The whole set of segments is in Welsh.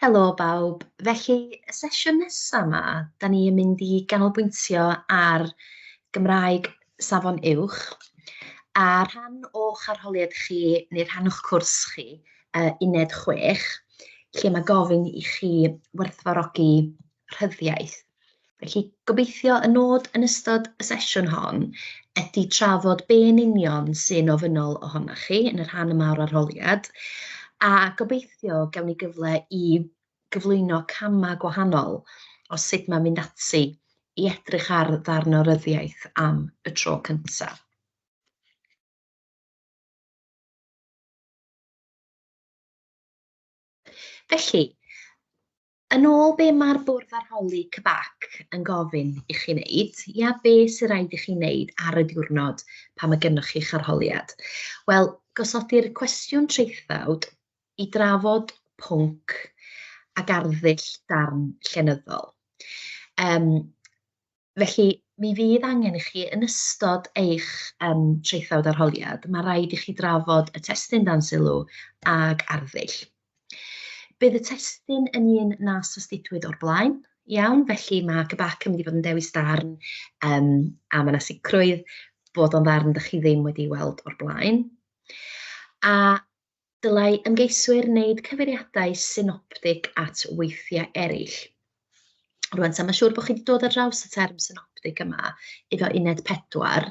Helo bawb, felly y sesiwn nesa' 'ma 'dan ni yn mynd i ganolbwyntio ar Gymraeg Safon Uwch, a rhan o'ch arholiad chi neu rhan o'ch cwrs chi yy uned chwech lle ma' gofyn i chi werthfawrogi rhyddiaith. Felly, gobeithio y nod yn ystod y sesiwn hon ydy trafod be yn union sy'n ofynnol ohonoch chi yn y rhan yma o'r arholiad, a gobeithio gawn ni gyfle i gyflwyno camau gwahanol o sut mae'n mynd ati i edrych ar ddarn o ryddiaith am y tro cyntaf. Felly, Yn ôl be mae'r bwrdd arholi CBAC yn gofyn i chi wneud, ia, be sy'n rhaid i chi wneud ar y diwrnod pan mae gennych chi'ch arholiad? Wel, gosodir cwestiwn traethawd i drafod pwnc ac arddull darn llenyddol. Um, Felly, mi fydd angen i chi, yn ystod eich um, traethawd arholiad, mae rhaid i chi drafod y testyn dan sylw ag arddull. Bydd y testyn yn un na sostitwyd o'r blaen, iawn, felly mae GBAC yn mynd i fod yn dewis darn um, a mae yna sicrwydd bod o'n ddarn ydych chi ddim wedi weld o'r blaen. A Dylai ymgeiswyr wneud cyfeiriadau synoptig at weithiau eraill. Rwan, ta mae'n siŵr bod chi wedi dod ar draws y term synoptig yma, iddo uned 4,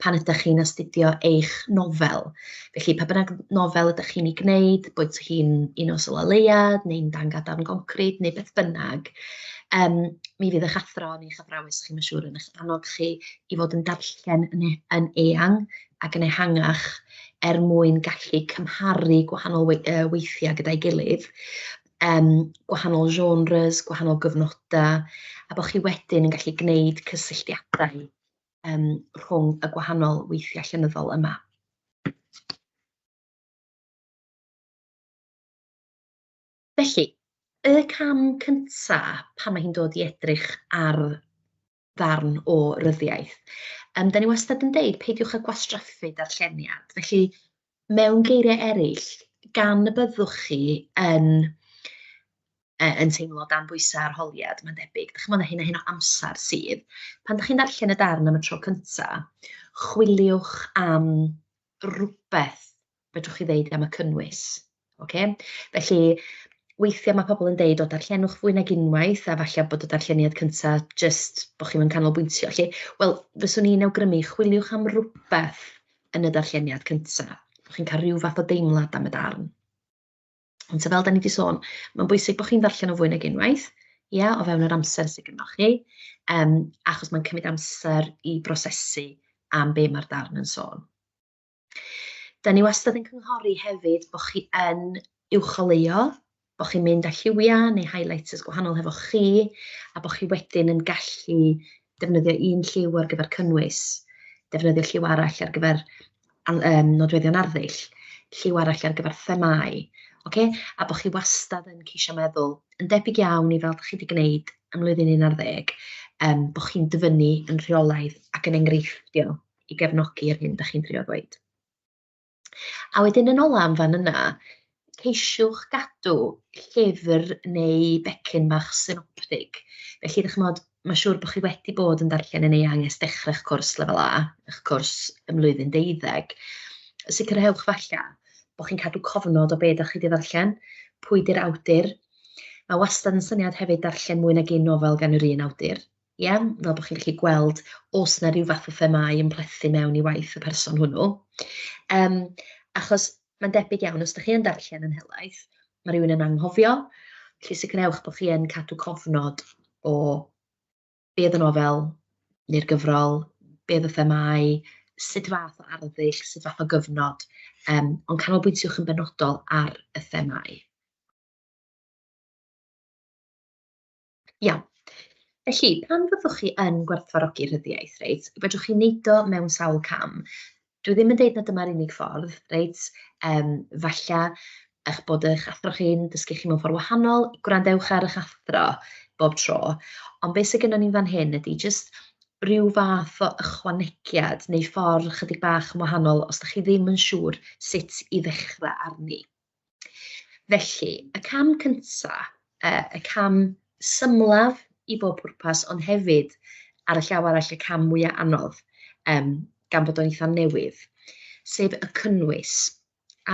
pan ydych chi'n astudio eich nofel. Felly, pa bynnag nofel ydych chi'n ei gwneud, bod hi'n un o Sola Leiad, neu'n Dan Gadarn Goncrid, neu beth bynnag, um, mi fydd eich athro neu eich athrawes chi, mae'n siŵr, yn eich annog chi i fod yn darllen yn, e yn eang ac yn ehangach er mwyn gallu cymharu gwahanol weithiau gyda'i gilydd, um, gwahanol genres, gwahanol gyfnodau, a bod chi wedyn yn gallu gwneud cysylltiadau um, rhwng y gwahanol weithiau llenyddol yma. Felly, y cam cyntaf pan mae hi'n dod i edrych ar ddarn o ryddiaith. Um, da ni wastad yn deud, peidiwch â gwastraffu darlleniad. Felly, mewn geiriau eraill, gan y byddwch chi yn, e, yn teimlo dan bwysau arholiad, mae'n debyg, ddech chi'n meddwl hyn a hyn o amser sydd, pan ddech chi'n darllen y darn am y tro cyntaf, chwiliwch am rhywbeth fedrwch chi ddeud am y cynnwys. Okay? Felly, weithiau mae pobl yn deud, o, darllenwch fwy nag unwaith, a falle bod y darlleniad cyntaf jyst bod chi'n mynd canolbwyntio. Felly, wel, fyswn i'n awgrymu, chwiliwch am rhywbeth yn y darlleniad cyntaf. Bod chi'n cael rhyw fath o deimlad am y darn. Ond ta fel da ni wedi sôn, mae'n bwysig bod chi'n ddarllen o fwy nag unwaith, ia, o fewn yr amser sydd gennych chi, um, achos mae'n cymryd amser i brosesu am be mae'r darn yn sôn. Da ni wastad yn cynghori hefyd bod chi yn uwcholeuo, bod chi'n mynd â lliwiau neu highlighters gwahanol hefo chi, a bod chi wedyn yn gallu defnyddio un lliw ar gyfer cynnwys, defnyddio lliw arall ar gyfer um, nodweddion arddull, lliw arall ar gyfer themau, okay? a bod chi wastad yn ceisio meddwl, yn debyg iawn i fel ydych chi wedi gwneud ym mlwyddyn 11, um, bod chi'n dyfynnu yn rheolaidd ac yn enghreifftiol. i gefnogi yr hyn da chi'n drio ddweud. A wedyn yn ola am fan yna, ceisiwch gadw llyfr neu becyn bach synoptig. Felly, ddech chymod, mae siŵr bod chi wedi bod yn darllen yn eang ers dechrau'ch cwrs lefel A, eich cwrs ym mlwyddyn deuddeg. Sicrhewch falle bod chi'n cadw cofnod o be da chi wedi ddarllen, pwy di'r awdur. Mae wastad yn syniad hefyd darllen mwy nag un nofel gan yr un awdur. Ie, fel bod chi'n gallu gweld oes 'na ryw fath o themâu yn plethu mewn i waith y person hwnnw. Yym, achos mae'n debyg iawn, os dach chi yn darllen yn helaeth, mae rhywun yn anghofio, felly sicrhewch bod chi yn cadw cofnod o be oedd y nofel neu'r gyfrol, be oedd y themâu, sut fath o arddull, sut fath o gyfnod, um, ond canolbwyntiwch yn benodol ar y themâu. Iawn. Felly, pan fyddwch chi yn gwerthfawrogi rhyddiaith, reit, fedrwch chi wneud o mewn sawl cam. Dwi ddim yn deud na dyma'r unig ffordd, reit, um, falle eich bod eich athro chi'n dysgu chi mewn ffordd wahanol, gwrandewch ar eich athro bob tro. Ond beth sydd gennym ni'n fan hyn ydy jyst rhyw fath o ychwanegiad neu ffordd chydig bach yn wahanol os da chi ddim yn siŵr sut i ddechrau arni. Felly, y cam cynta, yy y cam symlaf i bob pwrpas, ond hefyd ar y llaw arall y cam mwya anodd, um, gan bod o'n eitha newydd, sef y cynnwys.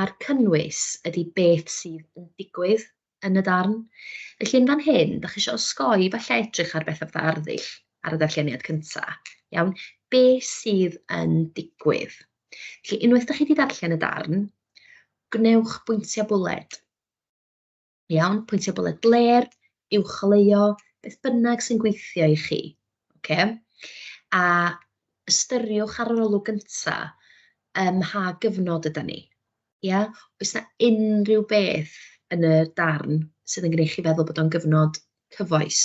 A'r cynnwys ydy beth sydd yn digwydd yn y darn. Felly yn fan hyn, da chi eisiau osgoi falle edrych ar beth fatha arddull ar y ddarlleniad cynta. Iawn, be sydd yn digwydd? Felly unwaith da chi wedi darllen y darn, Gwnewch bwyntiau bwled. Iawn, pwyntiau bwled bler, uwcholeuo, beth bynnag sy'n gweithio i chi. Okay? A ystyriwch ar yr olwg gyntaf ym mha gyfnod yda ni. Ia? Oes 'na unrhyw beth yn y darn sydd yn gwneud chi feddwl bod o'n gyfnod cyfoes,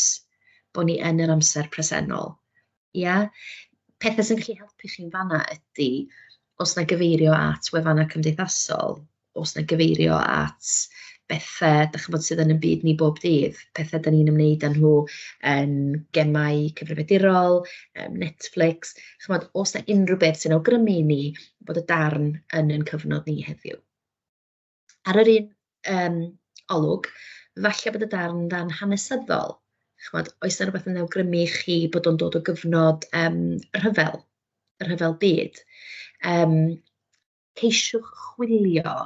bod ni yn yr amser presennol. Ia? Pethau sy'n gallu helpu chi'n fanna ydy, os na gyfeirio at wefannau cymdeithasol, os na gyfeirio at bethau, da chi'n bod, sydd yn y byd ni bob dydd, pethau da ni'n ymwneud â nhw yn gemau cyfrifiadurol, Netflix, chi'n bod, os na unrhyw beth sy'n awgrymu i ni bod y darn yn yn cyfnod ni heddiw. Ar yr un yym olwg, falle bod y darn yn ddarn hanesyddol, chimod, oes 'na rywbeth yn awgrymu i chi bod o'n dod o gyfnod yym y rhyfel, y rhyfel byd? Yym ceisiwch chwilio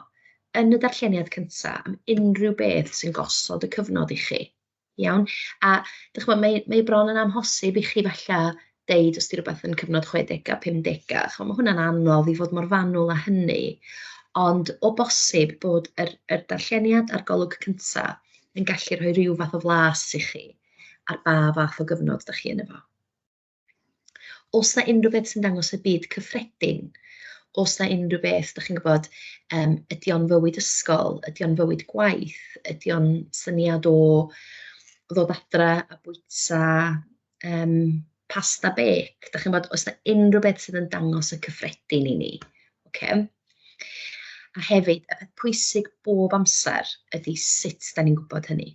yn y darlleniad cynta am unrhyw beth sy'n gosod y cyfnod i chi. Iawn, a dach chimod, mae mae bron yn amhosib i chi falle deud os 'di rywbeth yn cyfnod chwedegau, pumdegau, chimod, ma' hwnna'n anodd i fod mor fanwl â hynny, ond o bosib bod yr yr darlleniad a'r golwg cynta yn gallu rhoi ryw fath o flas i chi ar ba fath o gyfnod dach chi yno fo. Os na unrhyw beth sy'n dangos y byd cyffredin, os na unrhyw beth, da chi'n gwybod, um, ydy o'n fywyd ysgol, ydy o'n fywyd gwaith, ydy o'n syniad o ddod adra a bwyta um, pasta bec, da chi'n gwybod, os na unrhyw beth sydd yn dangos y cyffredin i ni. Okay? A hefyd, y peth pwysig bob amser ydy sut da ni'n gwybod hynny.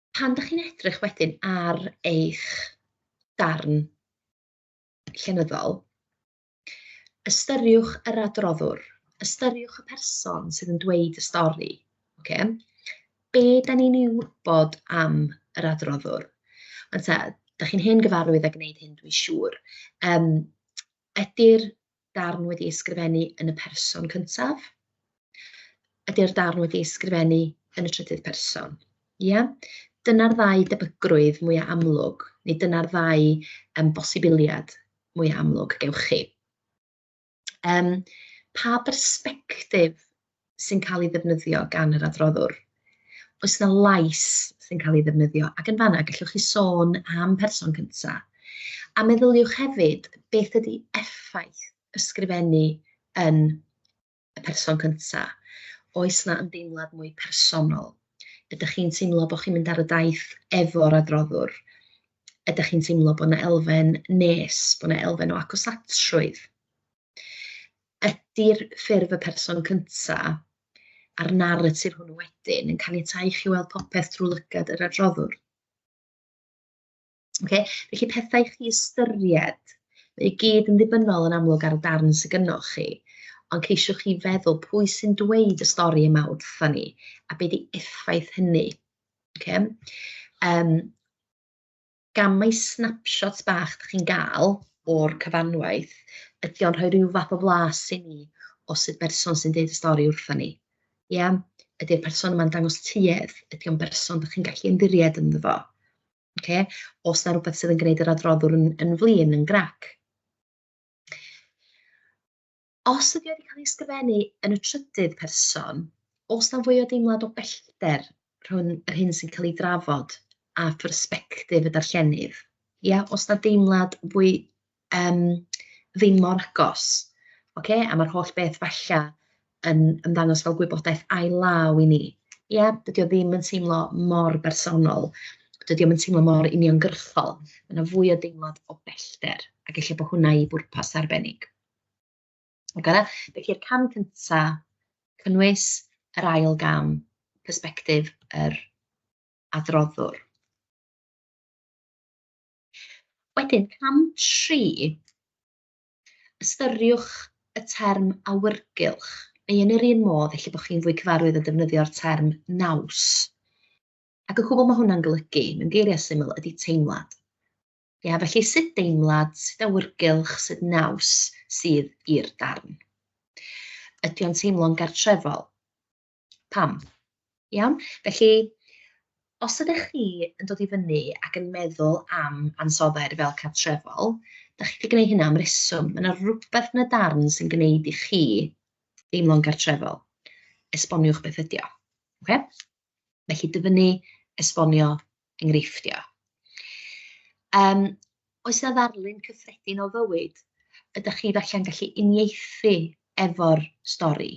Pan dach chi'n edrych wedyn ar eich darn llenyddol, ystyriwch yr adroddwr, ystyriwch y person sydd yn dweud y stori, oce? Be da ni'n ei wybod am yr adroddwr? Ond ta, da chi'n hen gyfarwydd a gwneud hyn, dwi'n siŵr. Um, ydy'r darn wedi ei sgrifennu yn y person cyntaf? Ydy'r darn wedi ei sgrifennu yn y trydydd person? Ia? Dyna'r ddau debygrwydd mwyaf amlwg, neu dyna'r ddau um, bosibiliad mwyaf amlwg gewch chi. Um, pa bersbectif sy'n cael ei ddefnyddio gan yr adroddwr. Oes 'na lais sy'n cael ei ddefnyddio? Ac yn fanna, gallwch chi sôn am person cyntaf. A meddyliwch hefyd, beth ydy effaith ysgrifennu yn y person cyntaf? Oes 'na ymdeimlad mwy personol? Ydych chi'n teimlo bod chi'n mynd ar y daith efo'r adroddwr? Ydych chi'n teimlo bod 'na elfen nes, bod 'na elfen o agosatrwydd? Ydy'r ffurf y person cyntaf a'r naratif hwnnw wedyn yn caniatáu i chi weld popeth drwy lygad yr adroddwr? Okay? Felly pethau i chi ystyried, mae i gyd yn ddibynnol yn amlwg ar y darn sydd gynnwch chi, ond ceisiwch chi feddwl pwy sy'n dweud y stori yma wrtho ni, a beth i effaith hynny. Okay? Um, gamau snapshots bach dych chi'n gael o'r cyfanwaith, ydy o'n rhoi rhyw fath o flas i ni o sut berson sy'n deud y stori wrthyn ni. Ia? Ydy'r person yma'n dangos tuedd? Ydy o'n berson dych chi'n gallu ymddiried ynddo fo? Oce? Os 'na rwbeth sydd yn gwneud yr adroddwr yn yn flin, yn grac. Os ydy wedi cael ei ysgrifennu yn y trydydd person, os na fwy o deimlad o bellter rhwng yr hyn sy'n cael ei drafod a phersbectif y darllenydd, ia, os na deimlad fwy um, ddim mor agos, okay? a mae'r holl beth falla yn ymddangos fel gwybodaeth ail-law i ni. Ie, yeah, dydy o ddim yn teimlo mor bersonol, dydy o'n teimlo mor uniongyrchol, mae yna fwy o deimlad o bellter, ac eisiau bod hwnna i bwrpas arbennig. Ac yna, felly'r cam cynta, cynnwys yr ail gam, persbectif yr adroddwr. Wedyn, cam tri, ystyriwch y term awyrgylch, neu yn yr un modd, felly bod chi'n fwy cyfarwydd o defnyddio'r term naws. Ac yn cwbl mae hwnna'n golygu, mewn geiriau syml, ydy teimlad. Ia, felly sut deimlad, sut awyrgylch, sut naws sydd i'r darn? Ydy o'n teimlo'n gartrefol? Pam? Iawn? Felly, os ydych chi yn dod i fyny ac yn meddwl am ansoddair fel cartrefol, da chi wedi gwneud hynna am reswm. Mae yna rhywbeth yn y darn sy'n gwneud i chi deimlo'n gartrefol. Esboniwch beth ydy o. Okay? Felly dyfynnu, esbonio, enghreifftiau. Um, oes yna ddarlun cyffredin o fywyd? Ydych chi felly'n gallu uniaethu efo'r stori?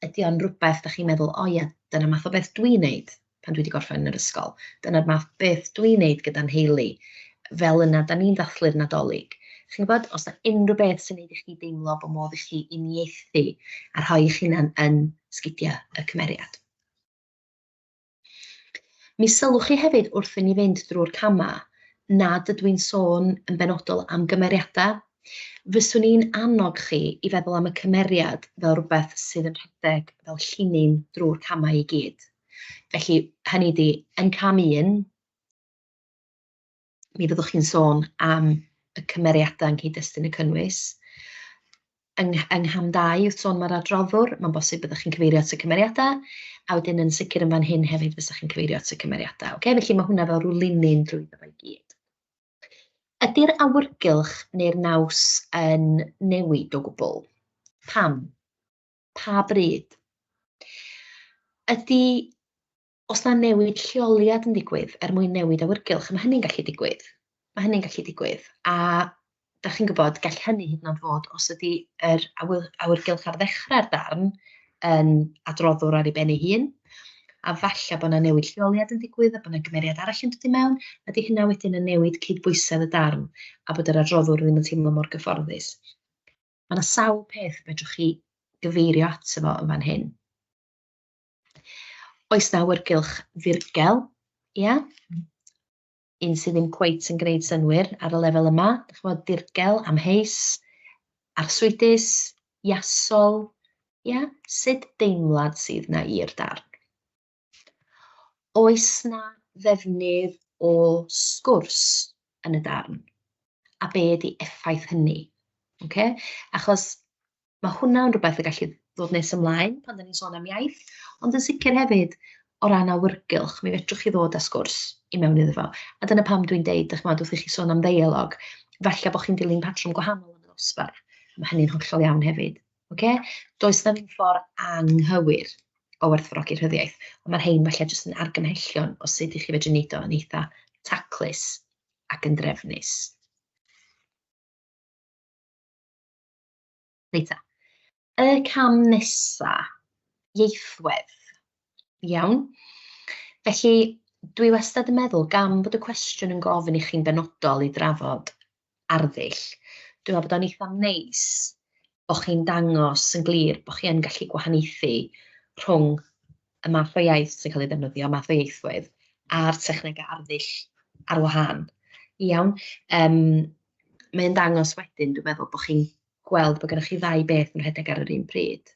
Ydy o'n rhywbeth da chi'n meddwl, o ia, dyna math o beth dwi'n neud pan dwi wedi gorffen yn yr ysgol. Dyna'r math beth dwi'n neud gyda'n heili. Fel yna, da ni'n ddathlu'r nadolig. Chi'n gwybod, os yna unrhyw beth sy'n neud i chi deimlo bod modd i chi uniaethu a rhoi eich hunan yn sgidiau y cymeriad. Mi sylwch chi hefyd wrth i ni fynd drwy'r camau nad ydw i'n sôn yn benodol am gymeriadau. Fyswn i'n annog chi i feddwl am y cymeriad fel rhywbeth sydd yn rhedeg fel llinyn drwy'r camau i gyd. Felly, hynny ydi, yn cam un, mi fyddwch chi'n sôn am y cymeriadau yng nghyd-destun y cynnwys. Yng ngh- yng ngham dau wrth sôn am yr adroddwr, mae'n bosib byddwch chi'n cyfeirio at y cymeriadau, a wedyn yn sicr yn fan hyn hefyd fysa chi'n cyfeirio at y cymeriadau. Okay? Felly mae hwnna fel rhyw linyn drwy ddo i gyd. Ydy'r awyrgylch neu'r naws yn newid o gwbl? Pam? Pa bryd? Ydy os na newid lleoliad yn digwydd er mwyn newid awyrgylch, mae hynny'n gallu digwydd. Mae hynny'n gallu digwydd. A da chi'n gwybod, gall hynny hyd yn oed fod os ydy yr awyrgylch ar ddechrau'r darn yn adroddwr ar ei ben ei hun, a falle bod yna newid lleoliad yn digwydd a bod yna gymeriad arall yn dod i mewn, ydy hynna wedyn yn newid cydbwysedd y darn a bod yr adroddwr ddim yn teimlo mor gyfforddus. Mae yna sawl peth fedrwch chi gyfeirio ato fo yn fan hyn. Oes na awyrgylch ddirgel? Ia? Un sydd ddim cweit yn gwneud synwyr ar y lefel yma. Dych chi'n gwybod, dirgel, amheus, arswydus, iasol. Ia? Sut deimlad sydd na i'r darn? Oes na ddefnydd o sgwrs yn y darn? A be ydy effaith hynny? Okay? Achos ma' hwnna yn rywbeth y gallu ddod nes ymlaen pan 'dan ni'n sôn am iaith, ond yn sicr hefyd o ran awyrgylch, mi fedrwch chi ddod â sgwrs i mewn iddo fo. A dyna pam dwi'n deud, dych ch'mod, wrth i chi sôn am ddeialog, falle bod chi'n dilyn patrwm gwahanol yn y ddosbarth, mae hynny'n hollol iawn hefyd. Okay? Does na ddim ffordd anghywir o werthfawrogi rhyddiaith, ond mae'r rhain falle jyst yn argymhellion o sut i chi fedru wneud o yn eitha taclus ac yn drefnus. Reit ta. Y cam nesa, ieithwedd. Iawn. Felly, dwi wastad yn meddwl, gan bod y cwestiwn yn gofyn i chi'n benodol i drafod arddull, dwi'n meddwl bod o'n eitha neis bod chi'n dangos yn glir bod chi yn gallu gwahaniaethu rhwng y math o iaith sy'n cael ei ddefnyddio, y math o ieithwedd, a'r technegau arddull ar wahân. Iawn. Um, mae'n dangos wedyn, dwi'n meddwl, bod chi'n gweld bod gennych chi ddau beth yn rhedeg ar yr un pryd.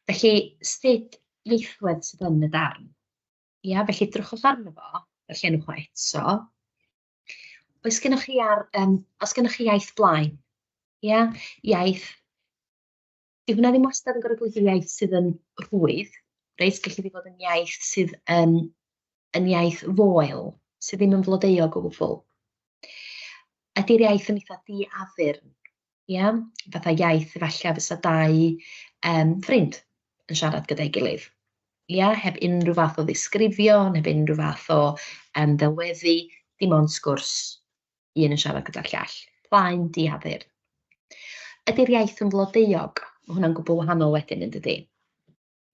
Felly, sut ieithwedd sydd yn y darn? Ia, felly drychwch arno fo, y llenwch o eto. Oes gennych chi, ar, um, os gennych chi iaith blaen? Ia, iaith Dyw hwnna ddim wastad yn gorfod bod yn iaith sydd yn rhwydd, reit? Gallu di fod yn iaith sydd yn, yn iaith foel, sydd ddim yn flodeuog o gwbl. Ydy'r iaith yn eitha di-afyrn, ia? Fatha iaith efallai fysa dau um, ffrind yn siarad gyda'i gilydd. Ia, heb unrhyw fath o ddisgrifio, heb unrhyw fath o um, ddelweddu, dim ond sgwrs. un yn siarad gyda'r llall. Plaen diadur. Ydy'r iaith yn flodeuog? Mae hwnna'n gwbl wahanol wedyn, yn dydy?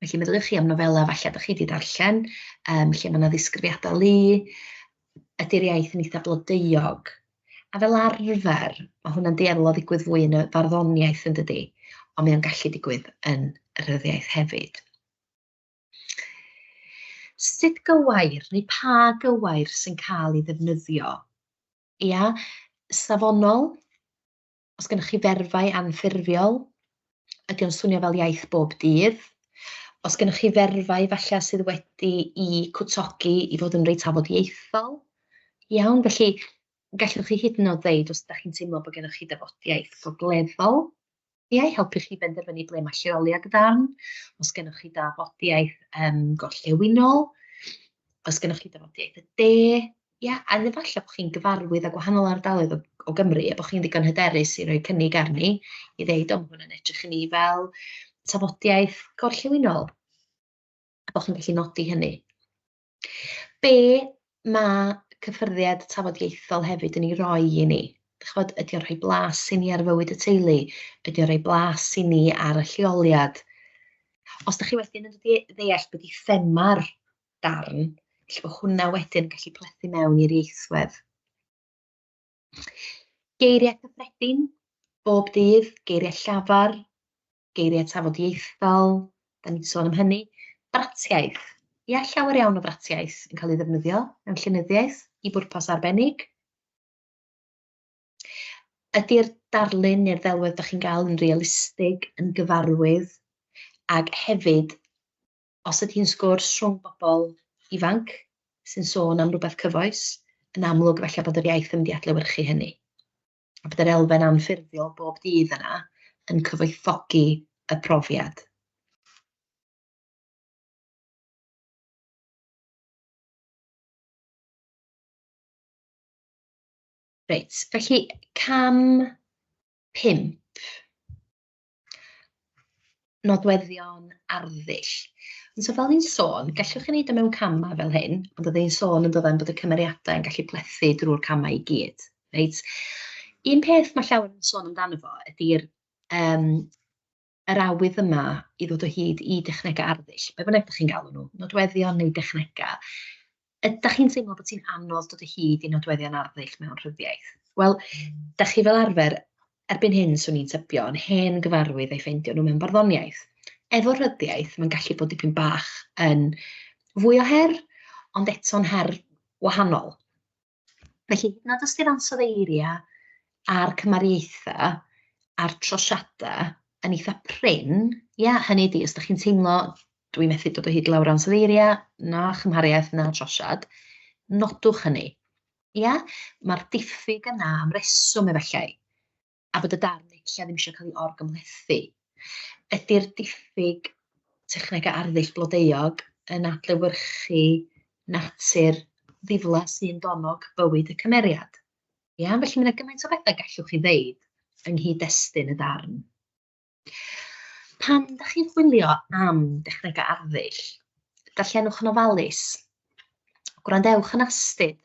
Felly meddyliwch chi am nofelau falle ydych chi wedi darllen, um, lle mae yna ddisgrifiadau lu, ydy'r iaith yn eitha blodeuog. A fel arfer, mae hwnna'n dueddol o ddigwydd fwy yn y farddoniaeth yn dydy, ond mae o'n gallu digwydd yn y rhyddiaeth hefyd. Sut gywair neu pa gywair sy'n cael ei ddefnyddio? Ia, safonol, os gennych chi ferfau anffurfiol, ydy o'n swnio fel iaith bob dydd? Os gennych chi ferfau falle sydd wedi i cwtogi i fod yn reit afodieithol, iawn, felly gallwch chi hyd yn oed ddeud os ydych chi'n teimlo bod gennych chi dafodiaith gogleddol, Ga i helpu chi benderfynu ble mae lleoli ag ddarn? Os gennych chi dafodiaith um, gorllewinol? Os gennych chi dafodiaith y de? Ia, a efallai bod chi'n gyfarwydd â gwahanol ardaloedd o, o Gymru a bod chi'n ddigon hyderus i roi cynnig arni i ddeud, o, mae hwnna'n edrych i ni fel tafodiaith gorllewinol. A bod chi'n gallu nodi hynny. Be ma' Cyffyrddiad Tafodieithol hefyd yn ei roi i ni, dach chibod, ydy o'n rhoi blas i ni ar fywyd y teulu, ydy o'n rhoi blas i ni ar y lleoliad? Os dach chi wedyn yn dde- ddeall be 'di thema'r darn, felly bod hwnna wedyn yn gallu plethu mewn i'r ieithwedd. Geiriau cyffredin, bob dydd, geiriau llafar, geiriau tafodieithol, da ni wedi sôn am hynny, bratiaith. Ia, llawer iawn o fratiaith yn cael ei ddefnyddio mewn llenyddiaeth i bwrpas arbennig. Ydy'r darlun neu'r ddelwedd da chi'n gael yn realistig, yn gyfarwydd, ac hefyd, os ydy hi'n sgwrs rhwng bobl ifanc sy'n sôn am rhywbeth cyfoes, yn amlwg felly bod yr iaith yn mynd i adlewyrchu hynny. a bydd yr elfen anffurfiol bob dydd yna yn cyfoethogi y profiad. Reit, felly cam pump. nodweddion arddull. Ond so fel ni'n sôn, gallwch chi wneud o e mewn camau fel hyn, ond oedden ni'n sôn yn ddoedden bod y cymeriadau yn gallu plethu drwy'r camau i gyd. Reit? Un peth mae llawer yn sôn amdano fo ydy'r um, yr awydd yma i ddod o hyd i dechnegau arddull, be bynnag ydych chi'n galw nhw, nodweddion neu dechnegau. Ydach chi'n teimlo bod ti'n anodd dod o hyd i nodweddion arddull mewn rhyddiaith? Wel, da chi fel arfer, erbyn hyn swn i'n tybio, yn hen gyfarwydd ei ffeindio nhw mewn barddoniaeth. Efo rhyddiaith, mae'n gallu bod dipyn bach yn fwy o her, ond eto'n her wahanol. Felly, nad os ti'n ansodd eiriau a'r cymariaethau a'r trosiadau yn eitha prin, ia, hynny ydi, os da chi'n teimlo Dwi methu dod o hyd i lawr ansoddeiriau, na chymhariaeth, na trosiad. Nodwch hynny. Ia, mae'r diffyg yna am reswm efallai, a bod y darn efallai ddim eisiau cael ei orgymhlethu. Ydy'r diffyg technegau arddull blodeuog yn adlewyrchu natur ddifla sy'n donnog bywyd y cymeriad? Ia, felly mae yna gymaint o bethau gallwch chi ddeud yng nghyd-destun y darn. Pam ydych chi'n chwilio am dechnegau arddull? Darllenwch yn ofalus. Gwrandewch yn astud.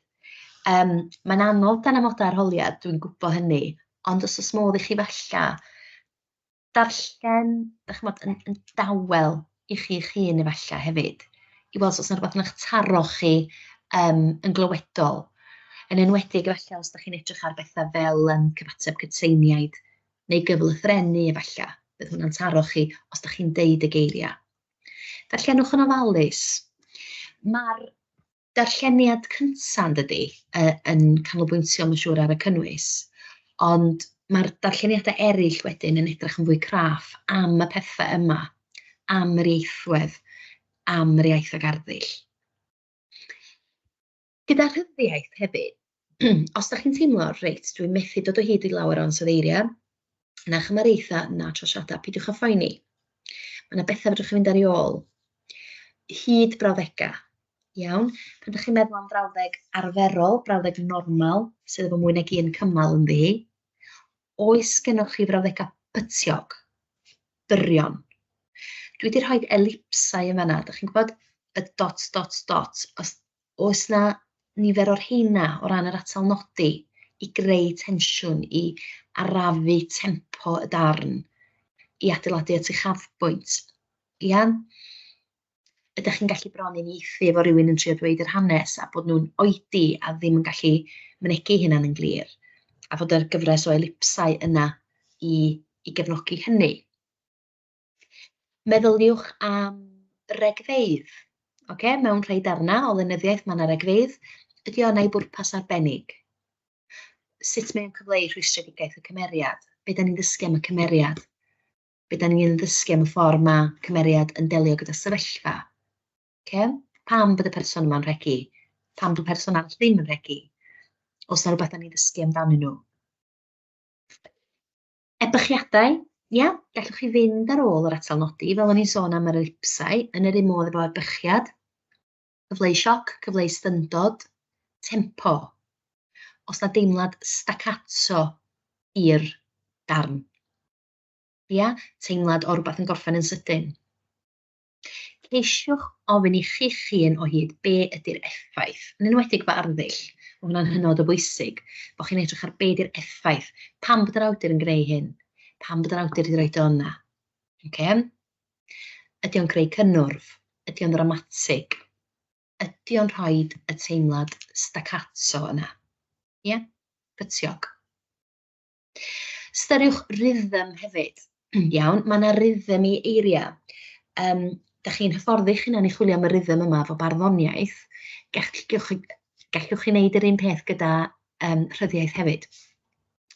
Um, Mae'n anodd dan amodau arholiad, dwi'n gwybod hynny, ond os oes modd i chi falla darllen, ddech chi'n yn, yn dawel i chi eich hun efallai hefyd, i weld os yna rhywbeth yn eich taro chi um, yn glywedol. Yn enwedig efallai os ydych chi'n edrych ar bethau fel um, cyfateb cytseiniaid neu gyflythrenu efallai, bydd hwnna'n taro chi os dach chi'n deud y geiriau. Darllenwch yn ofalus. Mae'r darlleniad cyntaf yn dydy, yn canolbwyntio yn siŵr ar y cynnwys, ond mae'r darlleniadau eraill wedyn yn edrych yn fwy craff am y pethau yma, am yr ieithwedd, am yr iaith ag arddull. Gyda rhyddiaith hefyd, os da chi'n teimlo, reit, dwi'n methu dod o hyd i lawer o'n sodeiriau, na chymareithau, na trosiadau, pidiwch a phoeni. Mae yna bethau fedrwch chi fynd ar ei ôl. Hyd brawddegau, iawn? Pan ydych chi'n meddwl am frawddeg arferol, brawddeg normal, sydd efo mwy nag un cymal yn ddi, oes gennych chi frawddegau pytiog, byrion? Dwi wedi rhoi elipsau yn fanna, ydych chi'n gwybod, y dots, dots, dots, os oes 'na nifer o'r rheina o ran yr atal nodi i greu tensiwn, i arafu tempo y darn, i adeiladu at uchafbwynt, ia? Ydach chi'n gallu bron uniaethu efo rywun yn trio dweud yr hanes a bod nhw'n oedi a ddim yn gallu mynegi hynna'n yn glir, a fod yr gyfres o elipsau yna i i gefnogi hynny? Meddyliwch am regfeydd. Oce, mewn rhai darnau o lenyddiaeth mae yna regfeydd. Ydy o yna i bwrpas arbennig? Sut mae'n cyfleu rhwystredigaeth y cymeriad? Be da ni'n ddysgu am y cymeriad? Be da ni'n ddysgu am y ffordd mae cymeriad yn delio gyda sefyllfa? Okay? Pam bod y person yma'n rhegi? Pam bod y person arall ddim yn rhegi? Os yna rhywbeth da ni'n ddysgu amdanyn nhw? Ebychiadau, ia, gallwch chi fynd ar ôl yr atal nodi, fel o'n i'n sôn am yr elipsau, yn yr un modd efo ebychiad, cyfleu sioc, cyfleu styndod, tempo. Os na deimlad staccato i'r darn. Ia, teimlad o rhywbeth yn gorffen yn sydyn. Ceisiwch ofyn i chi'ch hun o hyd be ydy'r effaith, yn enwedig fy arddull, mae hwnna'n hynod o bwysig, bod chi'n edrych ar be ydy'r effaith, pam bod yr awdur yn greu hyn, pam bod yr awdur wedi rhoi o yna. Okay? Ydy o'n greu cynnwrf? Ydy o'n ddramatig? Ydy o'n rhoi y teimlad staccato yna? Ie? Yeah? Cytiog. Styriwch rhythm hefyd. Iawn, mae yna rhythm i eiriau. Um, da chi'n hyfforddi chi'n anni chwilio am y rhythm yma fo barddoniaeth. Gallwch chi, gallwch chi wneud yr un peth gyda um, rhyddiaeth hefyd.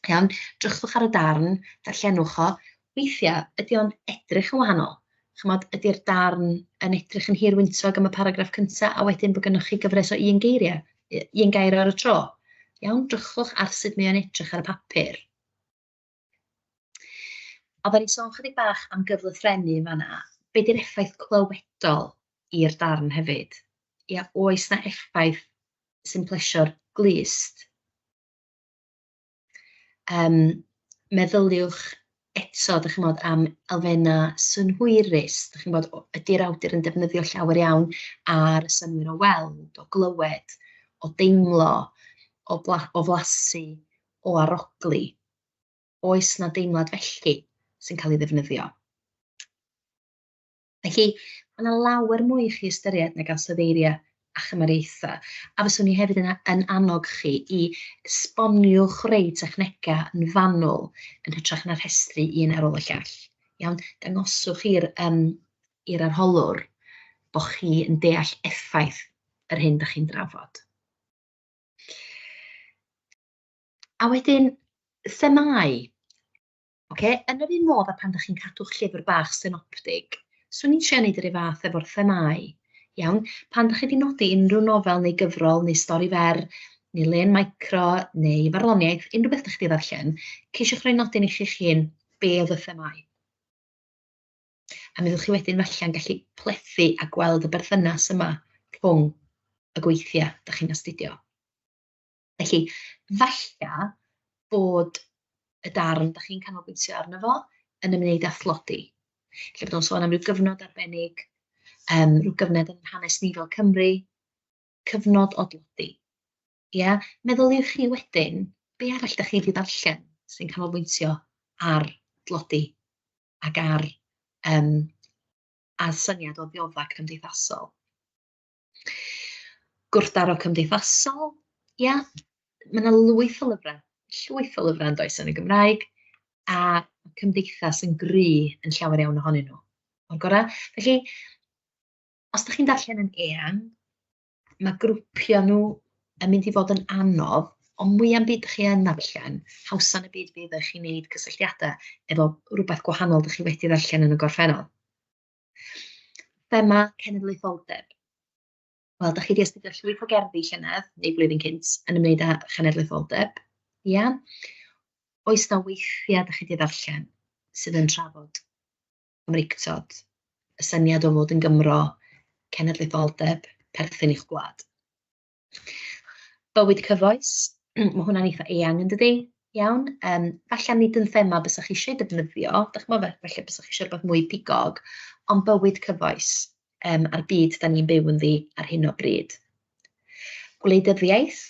Iawn, drychwch ar y darn, darllenwch o, weithiau ydy o'n edrych yn wahanol. Chimod, ydy'r darn yn edrych yn hir wyntog am y paragraff cyntaf, a wedyn bod gennych chi gyfres o un geiriau, un gair ar y tro. Iawn, drychwch ar sut mae o'n edrych ar y papur. A fe ni sôn chydig bach am gyflythrennu yn fanna. Be di'r effaith clywedol i'r darn hefyd? Ia, oes na effaith sy'n plesio'r glust? Yym, meddyliwch eto, dach chi'n gwybod, am elfennau synhwyrus, dach chi'n gwybod, o- ydy'r awdur yn defnyddio llawer iawn ar synnwyr o weld, o glywed, o deimlo, o bla- o flasu, o arogli. Oes 'na deimlad felly sy'n cael ei ddefnyddio? Felly, mae yna lawer mwy i chi ystyried nag ansoddeiriau a chymariaethau, a fyswn i hefyd yn, yn annog chi i esboniwch rei technegau yn fanwl yn hytrach na rhestru un ar ôl y llall. Iawn, dangoswch i'r um, i'r arholwr bod chi yn deall effaith yr hyn da chi'n drafod. A wedyn, themau. Oce, yn yr un modd a pan da chi'n cadw'ch llyfr bach synoptig, swn i'n trio neud yr un fath efo'r themâu. Iawn? Pan da chi wedi nodi unrhyw nofel neu gyfrol neu stori fer neu len micro neu farddoniaeth, unrhyw beth da chi wedi ddarllen, ceisiwch roi nodyn i chi'ch hun be oedd y themâu. A mi fyddwch chi wedyn felly'n gallu plethu a gweld y berthynas yma rhwng y gweithiau da chi'n astudio. Felly, falle bod y darn da chi'n canolbwyntio arno fo yn ymwneud â thlodi. Lle bod nhw'n sôn am ryw gyfnod arbennig, um, rhyw gyfnod yn hanes ni fel Cymru, cyfnod o dlodi. Ia? Meddyliwch chi wedyn, be arall da chi wedi darllen sy'n canolbwyntio ar dlodi ac ar um, a syniad o ddiodda cymdeithasol. Gwrthdaro cymdeithasol, ia, mae 'na lwyth o lyfrau, llwyth o lyfrau yn does yn y Gymraeg, a cymdeithas yn gry yn llawer iawn ohonyn nhw, o'r gorau. Felly, os da chi'n darllen yn eang, mae grwpio nhw yn mynd i fod yn anodd, ond mwya'm byd da chi yn darllen, hawsan y byd fydd eich i wneud cysylltiadau efo rhywbeth gwahanol da chi wedi ddarllen yn y gorffennol. Thema cenedlaetholdeb. Wel, da chi wedi astudio llwyth o gerddi llynedd, neu flwyddyn cynt, yn ymwneud â chenedlaetholdeb. Ia? Oes na weithiau da chi wedi ddarllen sydd yn trafod Cymreictod, y syniad o fod yn Gymro, cenedlaetholdeb, perthyn i'ch gwlad? Bywyd cyfoes, mae hwnna'n eitha eang yn dydy, iawn. Um, falle nid yn thema bysach chi eisiau defnyddio, da chi'n meddwl, falle bysach chi eisiau rhywbeth mwy pigog, ond bywyd cyfoes um, a'r byd da ni'n byw yn ddi ar hyn o bryd. Gwleidyddiaeth,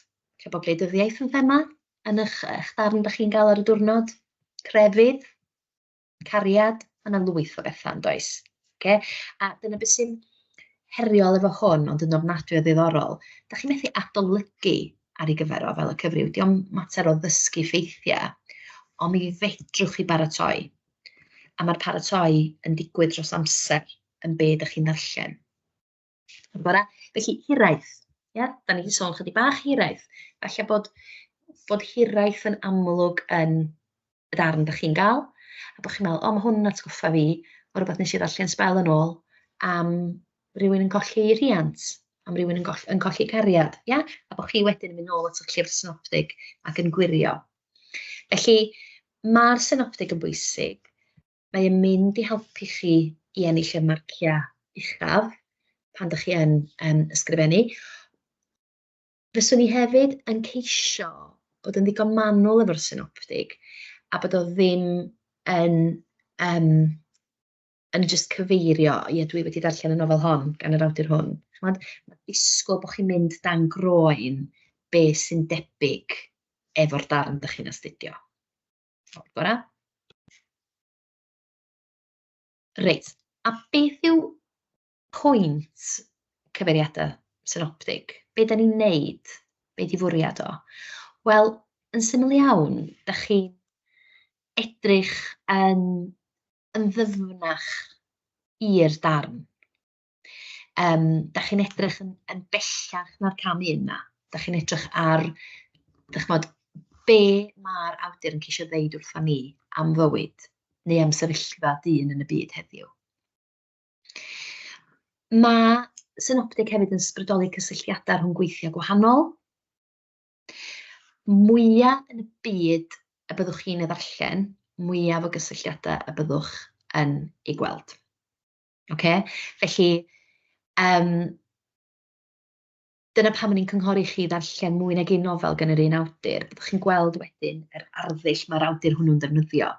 lle bod gwleidyddiaeth yn thema, yn eich, eich darn da chi'n gael ar y diwrnod, crefydd, cariad, mae yna lwyth o bethau yn does. Okay? A dyna beth sy'n heriol efo hwn, ond yn ofnadwy o ddiddorol. Da chi'n methu adolygu ar ei gyfer o fel y cyfryw. Diolch mater o ddysgu ffeithiau, ond mi fedrwch chi baratoi. A mae'r paratoi yn digwydd dros amser yn byd ydych chi'n ddarllen. Yn bora. Felly, hiraeth. Ia? Da ni wedi sôn chydig bach hiraeth. Felly bod, bod hiraeth yn amlwg yn y darn da chi'n gael, a bod chi'n meddwl, o, mae hwn yn atgoffa fi o rhywbeth nes i ddarllen sbel yn ôl am rhywun yn colli rhiant, am rhywun yn, goll, yn colli cariad, ia? a bod chi wedyn yn mynd nôl at y llyfr synoptig ac yn gwirio. Felly, mae'r synoptig yn bwysig, mae e'n mynd i helpu chi i ennill y marciau uchaf pan dych chi yn yym ysgrifennu. Fyswn i hefyd yn ceisio bod yn ddigon manwl efo'r synoptig a bod o ddim yn yym yn jyst cyfeirio, ie dwi wedi darllen y nofel hon gan yr awdur hwn. Chimod, ma' disgwyl bod chi'n mynd dan groen be sy'n debyg efo'r darn dych chi'n astudio. Ffordd gorau. Reit, a beth yw pwynt cyfeiriadau synoptig? Be da ni'n neud? Be di fwriad o? Wel, yn syml iawn, da chi edrych yn, yn ddyfnach i'r darn Um, da chi'n edrych yn, yn bellach na'r cam un na. Da chi'n edrych ar, da chi'n be mae'r awdur yn ceisio ddeud wrtho ni am fywyd neu am sefyllfa dyn yn y byd heddiw. Mae synoptig hefyd yn sbrydoli cysylltiadau rhwng gweithiau gwahanol. Mwyaf yn y byd y byddwch chi'n ei ddarllen, mwyaf o gysylltiadau y byddwch yn ei gweld. Oce? Felly, yym, dyna pam o'n i'n cynghori i chi ddarllen mwy nag un nofel gan yr un awdur, byddwch chi'n gweld wedyn yr arddull mae'r awdur hwnnw'n ddefnyddio,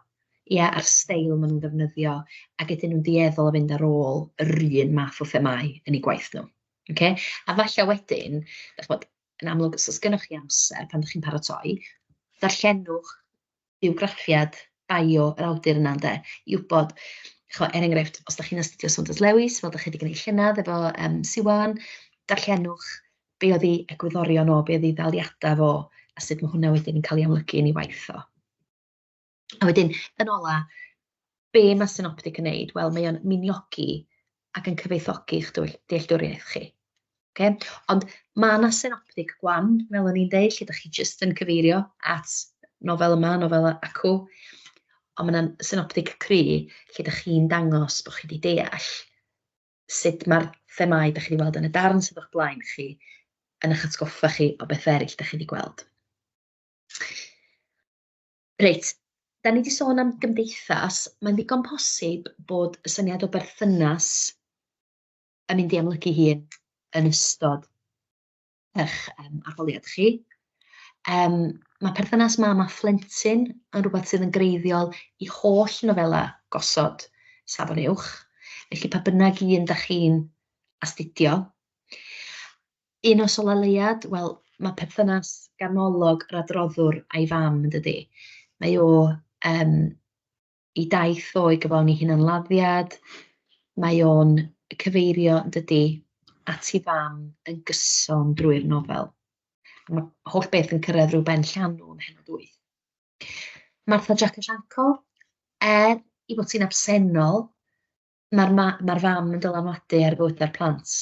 ie, a'r steil maen nhw'n ddefnyddio, ac ydyn nhw'n dueddol o fynd ar ôl yr un math o themâu yn eu gwaith nhw. Oce? A falle wedyn, dach chi'n gwybod, yn amlwg, os oes gennych chi amser pan dach chi'n paratoi, darllenwch bywgraffiad, bio, yr awdur yna ynde, i wybod, chimod, er enghraifft, os dach chi'n astudio Saunders Lewis, fel dach chi 'di gwneud llynedd efo yym Siwan, darllenwch be oedd ei egwyddorion o, be oedd ei ddaliadau fo, a sut mae hwnna wedyn yn cael ei amlygu yn ei waith o. A wedyn, yn ola, be mae synoptic yn neud? Wel, mae o'n miniogi ac yn cyfoethogi eich dealltwriaeth chi. Okay? Ond mae yna synoptic gwan, fel o'n i'n deud, lle da chi jyst yn cyfeirio at nofel yma, nofel acw. Ond mae yna synoptic cry, lle da chi'n dangos bod chi wedi deall sut mae'r themau da chi wedi weld yn y darn sydd o'ch blaen chi yn eich atgoffa chi o beth eraill da chi wedi gweld. Reit, dan ni 'di sôn am gymdeithas, mae'n ddigon posib bod y syniad o berthynas yn mynd i amlygu hun yn ystod eich yym arholiad chi. Yym ma' perthynas mam a phlentyn yn rwbeth sydd yn greiddiol i holl nofela gosod Safon Uwch, felly pa bynnag un 'dach chi'n astudio. Un nos o leuad, wel, mae perthynas ganolog yr adroddwr a'i fam yn dydi. Mae o um, i daith o'i gyflawni hunanladdiad, mae o'n cyfeirio yn dydi at ei fam yn gyson drwy'r nofel. Mae holl beth yn cyrraedd rhyw ben llanw yn hynod wyth. Martha Jack Asianco, er i fod sy'n absennol, ma'r ma- ma'r fam yn dylanwadu ar fywydau'r plant,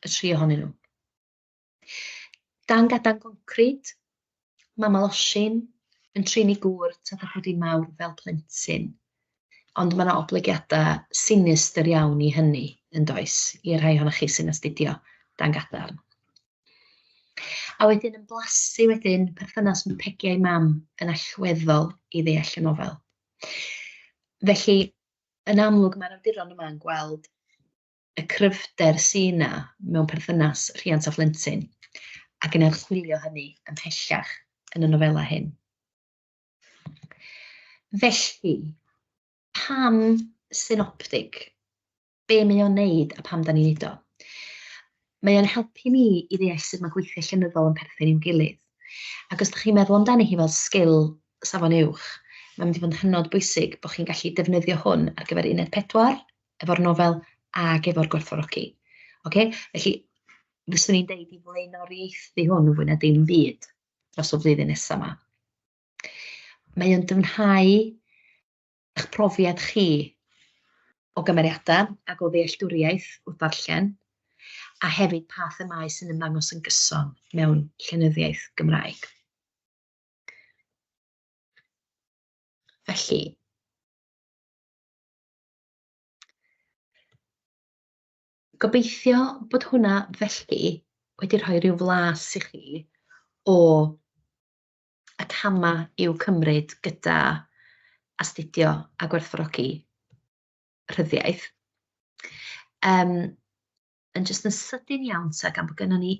y tri ohonyn nhw. Dan gadan concrid, mae Maloshin yn trin ei gŵr tad a bod hi'n mawr fel plentyn. Ond mae yna oblygiadau sinistr iawn i hynny yn does, i'r rhai ohonoch chi sy'n astudio dan gadarn. A wedyn yn blasu wedyn, perthynas mae Peggy a'i mam yn allweddol i ddeall y nofel. Felly, yn amlwg mae'r awduron yma yn gweld y cryfder sy' 'na mewn perthynas rhiant a phlentyn, ac yn archwilio hynny ymhellach yn y nofelau hyn. Felly, pam synoptig? Be mae o'n neud a pam da ni'n neud o? Mae o'n helpu ni i ddeall sut mae gweithiau llenyddol yn perthyn i'w gilydd. Ac os dych chi'n meddwl amdani hi fel sgil safon uwch, mae'n mynd i fod yn hynod bwysig bod chi'n gallu defnyddio hwn ar gyfer uned pedwar, efo'r nofel ac efo'r gwerthfawrogi. Oce? Felly, fyswn i'n deud i flaenoriaethu hwn yn fwy na dim byd dros y flwyddyn nesaf yma. Mae o'n dyfnhau eich profiad chi o gymeriadau ac o ddealltwriaeth wrth ddarllen, a hefyd pa themâu sy'n ymddangos yn gyson mewn llenyddiaeth Gymraeg. Felly, gobeithio bod hwnna felly wedi rhoi rhyw flas i chi o y camau i'w cymryd gyda astudio a gwerthfawrogi rhyddiaith. Um, yn jyst yn sydyn iawn ta gan bod gennym ni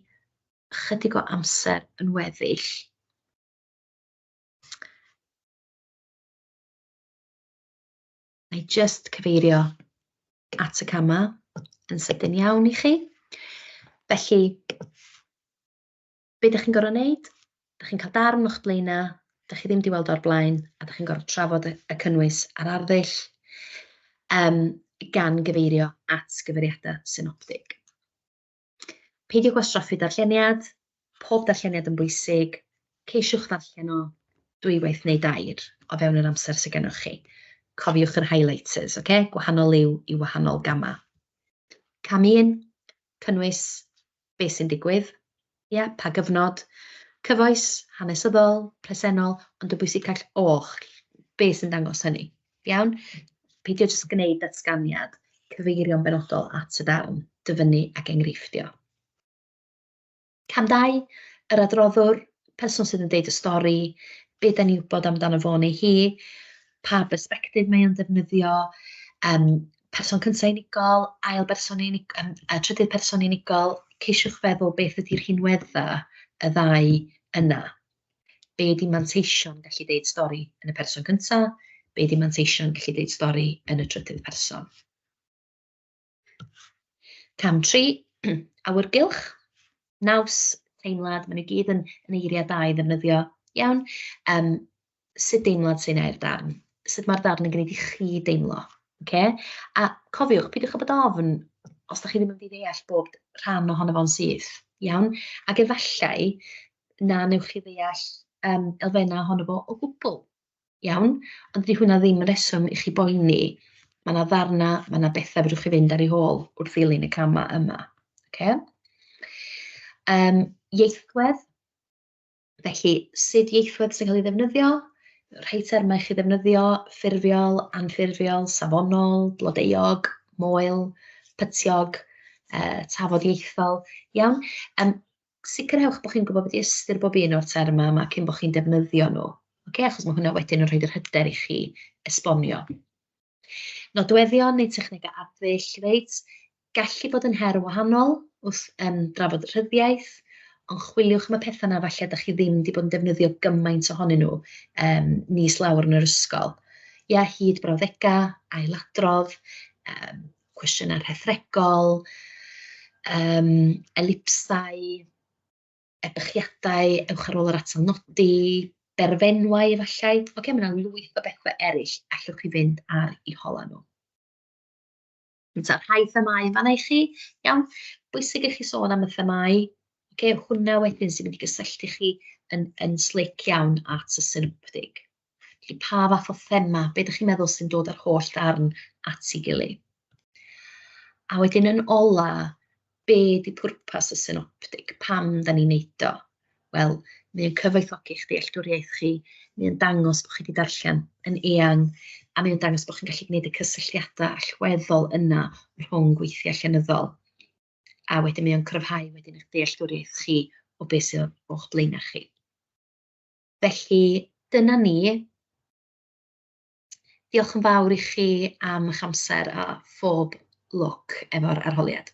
chydig o amser yn weddill. Mae jyst cyfeirio at y camau yn sydyn iawn i chi. Felly, be dych chi'n gorfod wneud, dych chi'n cael darn o'ch blaenau, dych chi ddim wedi weld o'r blaen, a dych chi'n gorfod trafod y, y cynnwys a'r arddull, um, gan gyfeirio at gyfeiriadau synoptig. Peidio gwastraffu darlleniad, pob darlleniad yn bwysig, ceisiwch ddarllen o dwywaith neu dair o fewn yr amser sydd gennych chi. Cofiwch yr highlighters, oce? Okay? Gwahanol liw i wahanol gamau. Cam un, cynnwys, beth sy'n digwydd, ia, pa gyfnod, cyfoes, hanesyddol, presennol, ond yn bwysicach oll, beth sy'n dangos hynny, iawn? Peidio jyst gwneud datganiad, cyfeirio'n benodol at y darn, dyfynnu ac enghreiffdio. Cam 2, yr adroddwr, person sydd yn deud y stori, be da ni'n wybod amdano fo neu hi, pa bersbectif mae o'n defnyddio, um, Person cyntaf unigol, ail berson unigol, yym a trydydd person unigol, ceisiwch feddwl beth ydy rhinwedda y ddau yna. Be ydy manteision gallu deud stori yn y person cyntaf, be ydy manteision gallu deud stori yn y trydydd person. Cam 3, awyrgylch, naws, teimlad, maen nhw gyd yn, yn eiriau da i ddefnyddio iawn. Um, sut deimlad sy'n neu'r darn, sut mae'r darn yn gwneud i chi deimlo. Okay? A cofiwch, peidiwch â bod ofn os da chi ddim yn mynd i ddeall bob rhan ohono fo'n syth, iawn? Ac efallai na newch chi ddeall um, elfennau ohono fo o gwbl, iawn? Ond di hwnna ddim yn reswm i chi boeni. Mae yna ddarna, mae yna bethau fydwch chi fynd ar ei hôl wrth ddilyn y camau yma. Okay? Um, ieithwedd, Felly, sut ieithwedd sy'n cael ei ddefnyddio? Rhai termau chi ddefnyddio, ffurfiol, anffurfiol, safonol, blodeuog, moel, pytiog, uh, tafodieithol. Iawn? Um, sicrhewch bod chi'n gwybod beth ystyr bob un o'r termau yma cyn bod chi'n defnyddio nhw. Okay? Achos mae hwnna wedyn yn rhoi yr hyder i chi esbonio. Nodweddion neu technegau arddull, reit, gallu bod yn her yn wahanol wrth um, drafod rhyddiaith, ond chwiliwch am y pethau yna falle da chi ddim wedi bod yn defnyddio gymaint ohonyn nhw um, nis lawr yn yr ysgol. Ia, hyd brawddegau, ailadrodd, um, cwestiynau rhethregol, um, elipsau, ebychiadau, ewch ar ôl yr atal nodi, berfenwau efallai, ocê, mae 'na lwyth o bethe eryll allwch chi fynd ar eu holau nhw. Reit, a'r rhai themâu yn fanna i chi, iawn, bwysig i chi sôn am y themâu, ocê, hwnna wedyn sy'n mynd i gysylltu chi yn yn slic iawn at y synoptig. Felly pa fath o thema, be dych chi'n meddwl sy'n dod â'r holl ddarn at ei gilydd? A wedyn yn ola, be di pwrpas y synoptig, pam da ni'n neud o? Wel, mae'n cyfoethogi eich dealltwriaeth chi, mae'n dangos bod chi wedi darllen yn eang, a mae'n dangos bod chi'n gallu gwneud y cysylltiadau allweddol yna rhwng gweithiau llenyddol. A wedyn mae'n cryfhau wedyn eich dealltwriaeth chi o beth sydd o'ch blaenau chi. Felly, dyna ni. Diolch yn fawr i chi am eich amser a phob lwc efo'r arholiad.